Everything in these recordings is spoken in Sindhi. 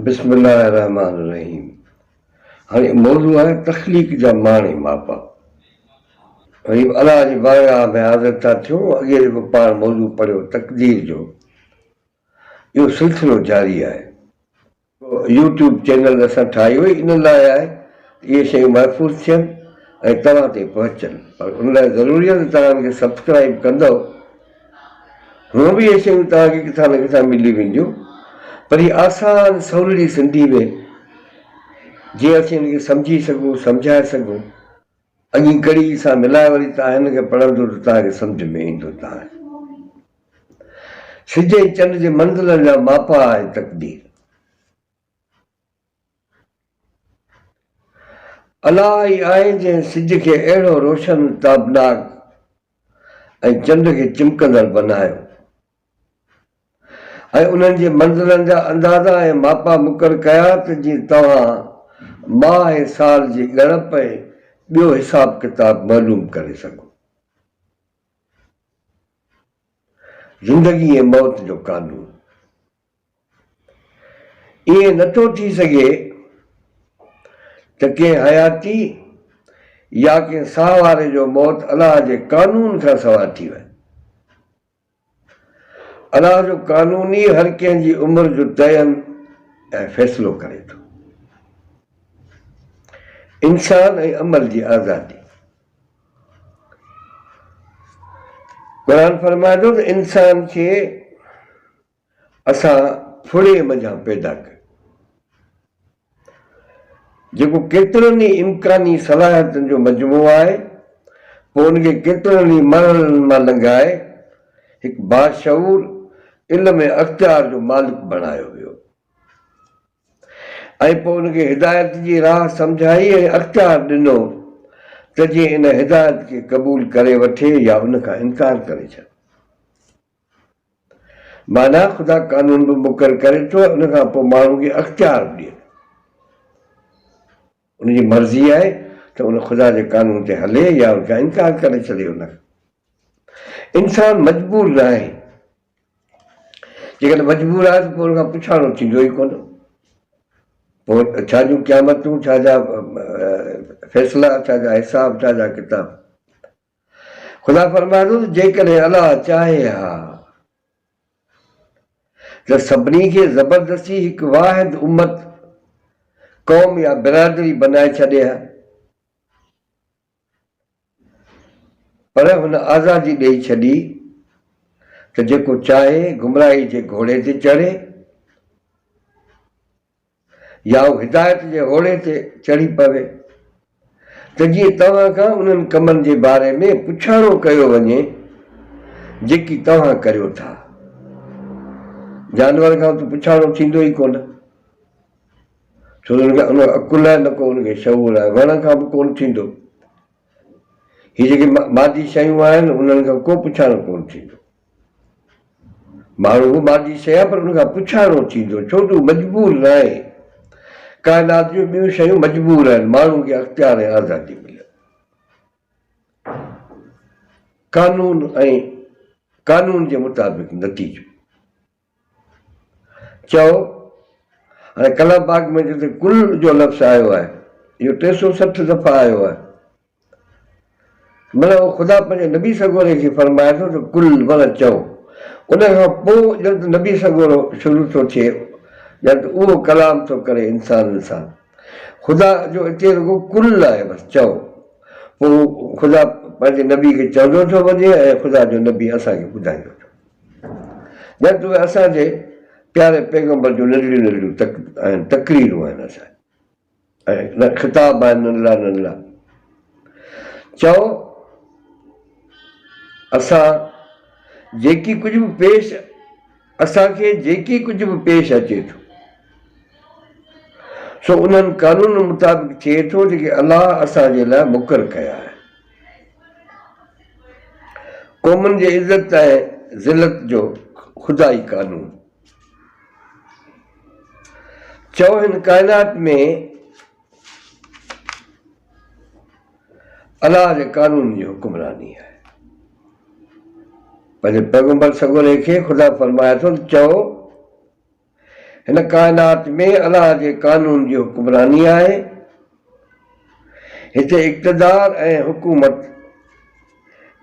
بسم الله الرحمٰن الرحيم هاڻي موضوع آهي تخليق جا معني ماپا غريب الله جي بارگاهه ۾ حاضر ٿا ٿيون اڳي جيڪو پاڻ موضوع پڙهيو تقدير جو اهو سلسلو جاري آهي يو ٽيوب چينل اسان ٺاهيو ئي ان لاء آهي ته اهي شيون محفوظ ٿين ۽ توهان تائين پهچن پر ان لاء ضروري آهي ته توهان ان کي سبسڪرائيب ڪندؤ هونئن به اهي شيون توهان کي ڪٿان نه ڪٿان ملي وينديون پر هي آسان سولڙي سنڌي ۾ جيئن اسين هن کي سمجهي سگهون سمجهائي سگهون اڳين ڪڙي سان ملائي وري توهان هن کي پڙهندو ته توهان کي سمجهه ۾ ايندو توهان سج ۽ چنڊ جي منزلن جا ماپا آهي تقدير الله ئي آهي جنهن سج کي اهڙو روشن، تابناڪ ۽ چنڊ کي چمڪندڙ بنايو ۽ انهن جي منزلن جا اندازا ۽ ماپا مقرر ڪيا ته جيئن توهان ماهه ۽ سال جي ڳڻپ ۽ ٻيو حساب ڪتاب معلوم ڪري سگهو. زندگي ۽ موت جو قانون. ائين نه ٿو ٿي سگهي ته ڪنهن حياتي يا ڪنهن ساهه واري جو موت الله جي قانون کان سواء ٿي وڃي. الله جو قانون ئي هر ڪنهن جي عمر جو تعين ۽ فيصلو ڪري ٿو. انسان ۽ عمل جي آزادي. قرآن فرمائي ٿو ته انسان کي. اسان ڦڙي منجهان پيدا ڪيو، جيڪو ڪيترن ئي امڪاني صلاحيتن جو مجموعو آهي، پوء ان کي ڪيترن ئي مرحلن مان لنگهائي، هڪ باشعور علم ۽ اختيار جو مالڪ بڻايو ويو ۽ پوء ان کي هدايت جي راهه سمجهائي ۽ اختيار ڏنو ته جيئن ان هدايت کي قبول ڪري وٺي يا ان کان انڪار ڪري ڇڏي. معنيٰ خدا قانون به مقرر ڪري ٿو ۽ ان کان پوء ماڻهو کي اختيار به ڏئي ٿو. ان جي مرضي آهي ته ان خدا جي قانون تي هلي يا ان کان انڪار ڪري ڇڏي. ان کان انسان مجبور ناهي. جيڪڏهن مجبور آهي ته پوء ان کان پڇاڻو ٿيندو ئي ڪونه. پوء ڇا جون قيامتون، ڇا جا فيصلا، ڇا جا حساب، ڇا جا ڪتاب. خدا فرمائي ٿو ته جيڪڏهن الله چاهي ها ته سڀني کي زبردستي هڪ واحد امت، قوم يا برادري بنائي ڇڏي ها پر هن آزادي ڏئي ڇڏي ته جيڪو چاهي گمراهي جي گهوڙي تي چڙهي يا هو هدايت جي هوڙي تي چڙهي پوي ته جيئن توهان کان انهن ڪمن جي باري ۾ پڇاڻو ڪيو وڃي جيڪي توهان ڪريو ٿا. جانور کان ته پڇاڻو ٿيندو ئي ڪونه ڇو ته ان کي نه عقل آهي نه ڪو ان کي شعور آهي، وڻ کان به ڪونه ٿيندو. هي جيڪي مادي شيون آهن انهن کان ڪو پڇاڻو ڪونه ٿيندو. ماڻهو به مادي شيء آهي پر ان کان پڇاڻو ٿيندو ڇو جو هو مجبور ناهي. ڪائنات جون ٻيون شيون مجبور آهن، ماڻهو کي اختيار ۽ آزادي مليل آهي. قانون ۽ قانون جي مطابق نتيجو. چئو، هاڻي ڪلهه باغ ۾ جتي ڪل جو لفظ آيو آهي، اهو ٽي سؤ سٺ دفعا آيو آهي. معنيٰ اهو خدا پنهنجي نبي سڳوري کي فرمائي ٿو ته قل معنيٰ چئو. ان کان پوء ڄڻ ته نبي سڳورو شروع ٿو ٿئي، ڄڻ ته اهو ڪلام ٿو ڪري انسانن سان. خدا جو اتي رڳو قل آهي بس چئو. پوء خدا پنهنجي نبي کي چوندو ٿو وڃي ۽ خدا جو نبي اسان کي ٻڌائيندو ٿو وڃي. ڄڻ ته اهي اسان جي پياري پيغمبر جون ننڍڙيون ننڍڙيون تق آهن، تقريرون آهن اسان جون ۽ خطاب آهن ننڍڙا ننڍڙا. چئو اسان جيڪي ڪجهه به پيش اسان کي جيڪي ڪجهه به پيش اچي ٿو سو انهن قانونن مطابق ٿئي ٿو جيڪي الله اسان جي لاء مقرر ڪيا آهن. قومن جي عزت ۽ ذلت جو خدائي قانون. چئو هن ڪائنات ۾ الله جي قانون جي حڪمراني آهي. پنهنجي پيغمبر سڳوري کي خدا فرمائي ٿو ته چئو. هن ڪائنات ۾ الله جي قانون جي حڪمراني آهي. هتي اقتدار ۽ حڪومت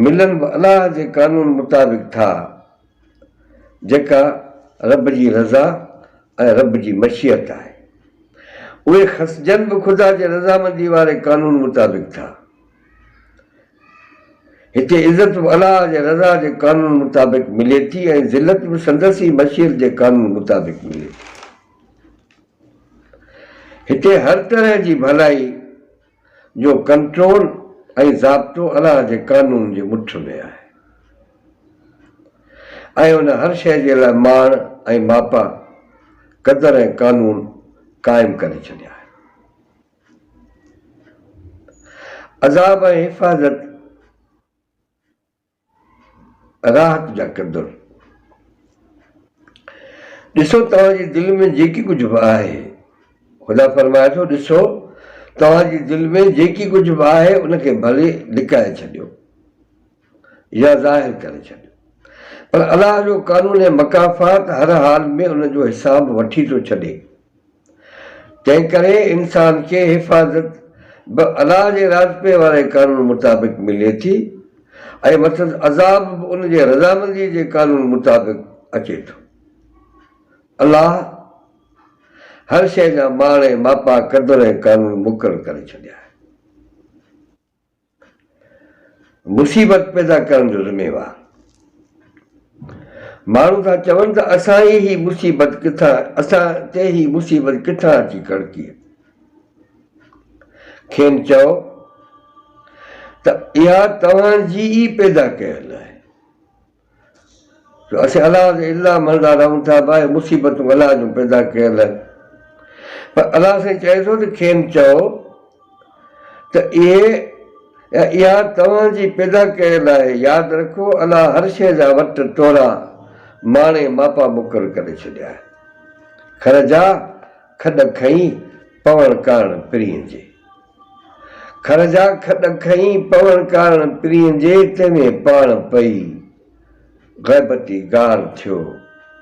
ملن به الله جي قانون مطابق ٿا، جيڪا رب جي رضا ۽ رب جي مشيئت آهي. اهي خسجن به خدا جي رضامندي واري قانون مطابق ٿا. هتي عزت به الله جي رضا جي قانون مطابق ملي ٿي ۽ ذلت به سندس ئي مشيت جي قانون مطابق ملي ٿي. هتي هر طرح جي ڀلائي جو ڪنٽرول ۽ ضابطو الله جي قانون جي مٺ ۾ آهي ۽ ان هر شيء جي لاء ماڻ ۽ ماپا، قدر ۽ قانون قائم ڪري ڇڏيا آهن. عذاب ۽ حفاظت راحت جا ڪندڙ. ڏسو توهان جي دل ۾ جيڪي ڪجهه به آهي، خدا فرمائي ٿو، ڏسو توهان جي دل ۾ جيڪي ڪجهه به آهي ان کي ڀلي لڪائي ڇڏيو. يا ظاهر ڪري ڇڏ. پر الله جو قانون مڪافات هر حال ۾ ان جو حساب وٺي ٿو ڇڏي. تنهنڪري انسان کي حفاظت به الله جي راضپي واري قانون مطابق ملي ٿي ۽ مٿس عذاب به ان جي رضامندي جي قانون مطابق اچي ٿو. الله هر شيء جا ماڻ ۽ ماپا، قدر ۽ قانون مقرر ڪري ڇڏيا آهن. مصيبت پيدا ڪرڻ جو ذميوار ماڻهو ٿا چون ته اسان ئي هي مصيبت ڪٿان اسان تي هي مصيبت ڪٿان اچي ڪڙڪي کين چئو ته اها توهان جي ئي پيدا ڪيل آهي جو اسين الله جي الزام هڻندا رهون ٿا ته اهي مصيبتون الله جون پيدا ڪيل آهن پر الله سائين چئي ٿو ته کين چئو ته اهي يا اها توهان جي پيدا ڪيل آهي ياد رکو الله هر شيء جا وٽ ٽورا ماڻي ماپا مقرر ڪري ڇڏيا آهن کر جا کڏ کئين پوڻ ڪاڻ پرين جي کر جا کڏ کئي پوڻ ڪارڻ پرينء جي تنهن ۾ پاڻ پئي غيبتي گار ٿيو.